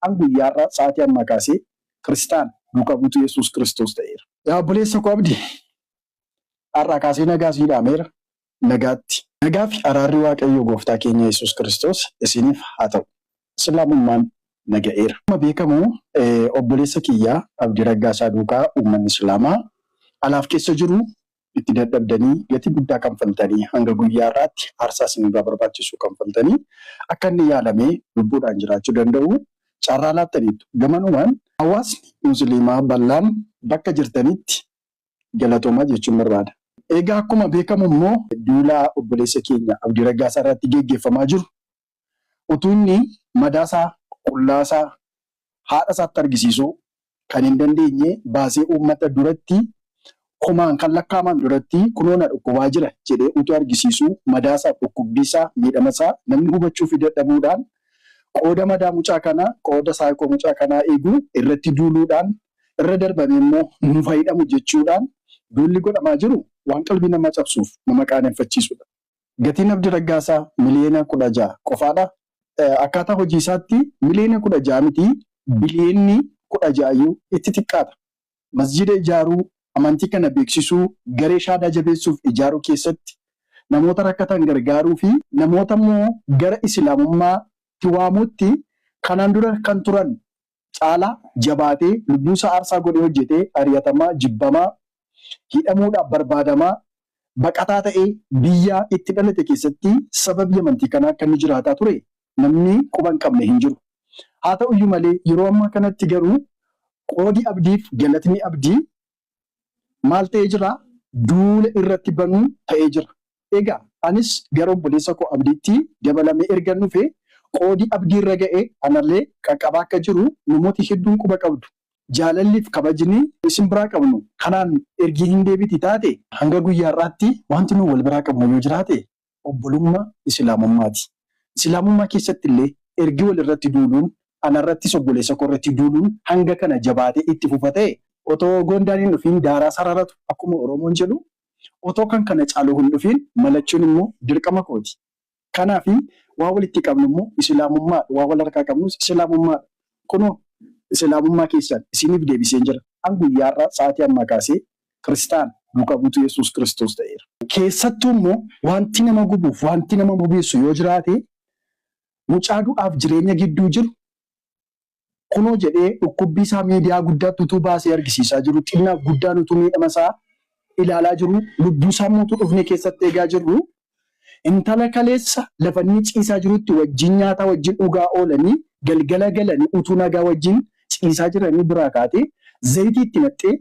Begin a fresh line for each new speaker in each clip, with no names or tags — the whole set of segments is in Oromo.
An guyyaa har'aa sa'aatii ammaa kaasee Kiristaana, duuka buutuu Yesuus Kiristoos ta'eera. Yaa obboleessa koo Abdii, har'aa kaasee nagaa sii dhaameera. Nagaatti. Nagaa fi araarri Waaqayyoo Gooftaa keenya Yesuus Kiristoos isiniif haa ta'u. Islaamummaan na ga'eera. Akkuma beekamu obboleessa kiyya Abdii Raggaasaa duukaa uummanni Islaamaa alaaf keessa jiru itti dadhabdanii, gatii guddaa kanfaltanii, hanga guyyaa har'aatti aarsaa isin irraa barbaachisu kanfaltanii akka inni yaalamee lubbuudhaan jiraachuu danda'u carraa laattaniittu. Gamanumaan hawaasni Musliimaa bal'aan bakka jirtanitti galatoomaa jechuun barbaada. Egaa akkuma beekamu immoo duula obboleessa keenya Abdii Raggaasaa irratti geggeeffamaa jiru Utuu inni madaasaa, qullaasaa, haadhasaatti argisiisuu kan hin dandeenye baasee uummata duratti, kumaan kan lakkaa'aman duratti kunoo na dhukkubaa jira jedhee utuu argisiisuu madaasaaf dhukkubbiisaa, miidhamasaa namni hubachuufii dadhabuudhaan qooda madaa mucaa kanaa, qooda psycho mucaa kanaa eegu irratti duuluudhaan irra darbamee immoo nuuf haa hidhamu jechuudhaan duulli godhamaa jiru waan qalbii namaa cabsuuf nama qaaneffachiisudha. Gatiin Abdi Raggaasaa miliyeena 16 qofaadha. Akkaataa hojiisaatti miliyeena 16 miti biliyeenni 16 iyyuu itti xiqqaata. Masjiida ijaaruu, amantii kana beeksisuu, garee shaadaa jabeessuuf ijaaruu keessatti, namoota rakkatan gargaaruufi namoota immoo gara Isilaamummaatti waamuutti kanaan dura kan turan caalaa jabaatee lubbuusaa aarsaa godhee hojjetee ari'atamaa, jibbamaa, hidhamuudhaaf barbaadamaa, baqataa ta'ee biyya itti dhalate keessatti sababii amantii kanaa akka inni jiraataa ture namni quba hin qabne hin jiru. Haa ta'uyyuu malee yeroo ammaa kanatti garuu qoodi abdiif galatni abdii maal ta'ee jira? Duula irratti banuu ta'ee jira. Egaa anis gara obboleessa koo Abdiitti dabalamee ergan dhufe, qoodi Abdii irra ga'e anallee qaqqabaa akka jiru namooti hedduun quba qabdu. Jaalalli fi kabajni isin biraa qabnu kanaan ergi hin deebiti taate, hanga guyyaa har'aatti wanti nu wal biraa qabnu yoo jiraate obbolummaa Isilaamummaati. Isilaamummaa keessatti illee ergi wal irratti duuluun, ana irrattis obboleessa koo irratti duuluun hanga kana jabaatee itti fufa ta'e, otoo goondaan hin dhufiin daaraa sararatu akkuma Oromoon jedhu, otoo kan kana caalu hin dhufiin malachuun immoo dirqama kooti. Kanaafi, waan walitti qabnu immoo Isilaamummaa dha, waan wal harkaa qabnus Isilaamummaa dha. Kunoo, Isilaamummaa keessan isiniif deebiseen jira. An guyyaa har'aa sa'aatii ammaa kaasee Kiristaan duuka buutuu Yesuus Kiristoos ta'eera. Keessattuu immoo waanti nama gubuuf waanti nama bobeessu yoo jiraate mucaa du'aaf jireenya gidduu jiru kunoo jedhee dhukkubbii isaa miidiyaa guddaatti utuu baasee argisiisaa jiruu xinnaaf guddaan utuu miidhama isaa ilaalaa jiruu lubbuu isaa immoo utuu dhufnee keessatti eegaa jirru intala kaleessa lafa inni ciisaa jirutti wajjin nyaataa wajjin dhugaa oolanii galgala galanii utuu nagaa wajjin ciisaa jiranii biraa kaatee zayitii itti naqxee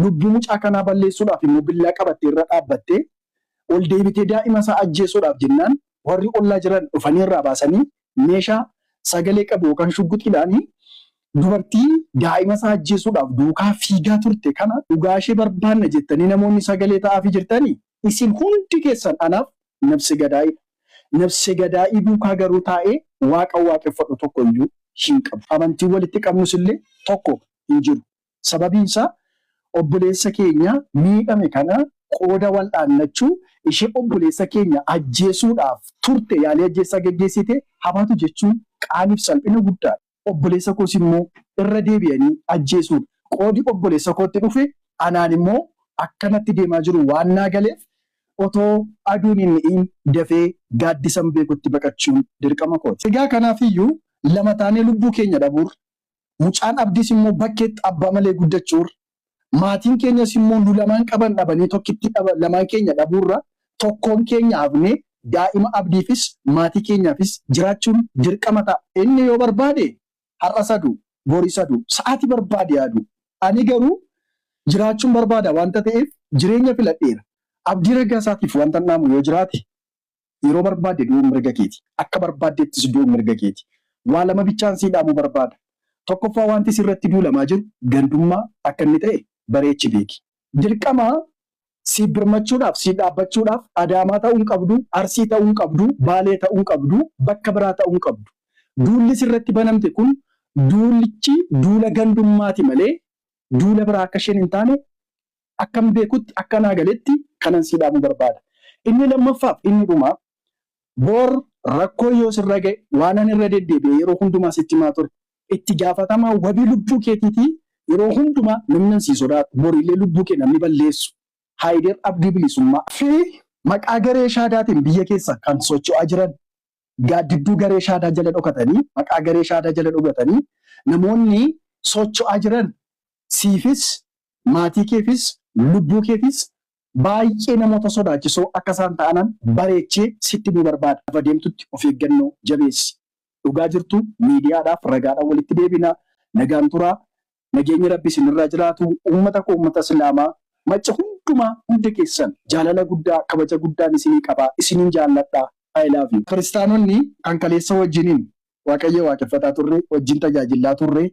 lubbuu mucaa kanaa balleessuudhaaf immoo billaa qabattee irra dhaabbattee ol deebitee daa'ima isaa ajjeesuudhaaf jennaan warri ollaa jiran dhufanii irraa baasanii meeshaa sagalee qabu yookaan shugguxiidhaan dubartii daa'ima isaa ajjeesuudhaaf duukaa fiigaa turte kana dhugaa ishee barbaanna jettanii namoonni sagalee ta'aafii jirtanii isin hundi keessan anaaf nabse gadaa'iidha. Nabse gadaa'ii duukaa garuu taa'ee Waaqa waaqeffadhu tokko iyyuu hin qabu. Amantiin walitti qabnus illee tokko hin jiru. Sababiin isaa obboleessa keenya miidhame kana qooda wal'aannachuu ishee obboleessa keenya ajjeesuudhaaf turte yaalii ajjeechaa geggeessite haa baatu jechuun qaanii fi salphina guddaa dha. Obboleessa koos immoo irra deebi'anii ajjeesuun qoodi obboleessa kootti dhufe anaan immoo akka natti deemaa jiru waan naa galeef otoo aduun hin dhi'iin dafee gaaddisan beekutti baqachuun dirqama kooti. Egaa kanaaf iyyuu lama taanee lubbuu keenya dhabuurra Mucaan Abdiis immoo bakkeetti abbaa malee guddachuurra, maatiin keenyas immoo nu lamaan qaban dhabanii tokkittii dhaba lamaan keenya dhabuurra tokkoon keenya hafnee daa'ima Abdiifis maatii keenyaafis jiraachuun dirqama ta'a. Inni yoo barbaade har'as haa du'u, boris haa du'u, sa'aatii barbaade haa du'u. Ani garuu jiraachuun barbaada waanta ta'eef jireenya filadheera. Abdii Raggaasaatiif waantan dhaamu yoo jiraate Yeroo barbaadde du'uun mirga keeti. Akka barbaaddeettis du'uun mirga keeti. Waa lama bichaan sii dhaamuu barbaada. Tokkoffaa waanti sirratti duulamaa jiru gandummaa akka inni ta'e bareechi beeki. Dirqama siif birmachuudhaaf, siif dhaabbachuudhaaf Adaamaa ta'uu hin qabdu, Arsii ta'uu hin qabdu, Baalee ta'uu hin qabdu, bakka biraa ta'uu hin qabdu. Duulli sirratti banamte kun duulichi duula gandummaati malee duula biraa akka isheen hin taane Akkan beekutti, akka naa galetti kanan sii dhaamu barbaada. Inni lammaffaaf inni dhumaa, bor rakkoon yoo sirra ga'e waanan irra deddeebi'ee yeroo hundumaa sitti himaa ture, itti gaafatamaa wabii lubbuu keetiitii yeroo hundumaa namnan sii sodaadhu, bor illee lubbuu kee namni balleessu, Haayider Abdii Bilisummaa, fi maqaa garee Shaadaatiin biyya keessa kan socho'aa jiran, gaaddidduu garee Shaadaa jala dhokatanii, maqaa garee Shaadaa jala dhogatanii namoonni socho'aa jiran siifis, maatii keefis, lubbuu keefis baay'ee namoota sodaachisoo akka isaan ta'anan bareechee sitti himuu barbaada. Lafa deemtutti of eeggannoo jabeessi. Dhugaa jirtu miidiyaadhaaf ragaadhaan walitti deebina. Nagaan turaa. Nageenyi Rabbii isinirraa jiraatu. Uummata koo uummata Islaamaa Macca hundumaa hunda keessan jaalala guddaa kabaja guddaan isinii qaba. Isiniin jaalladha. I love you. Kiristaanonni kan kaleessa wajjinin Waaqayyoo waaqeffataa turre, wajjin tajaajillaa turre,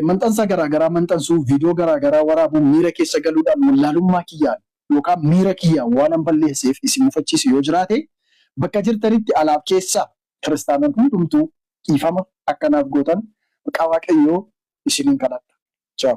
Maxxansa garaa garaa maxxansuu, viidiyoo garaa garaa waraabuun miira keessa galuudhaan wallaalummaa kiyyaan yookaan miira kiyyaan waanan balleesseef isin mufachiise yoo jiraate, bakka jirtanitti alaaf keessa kiristaanonni hundumtuu dhiifama akka naaf gootan maqaa Waaqayyoo isiniin kadhadha. Ciao.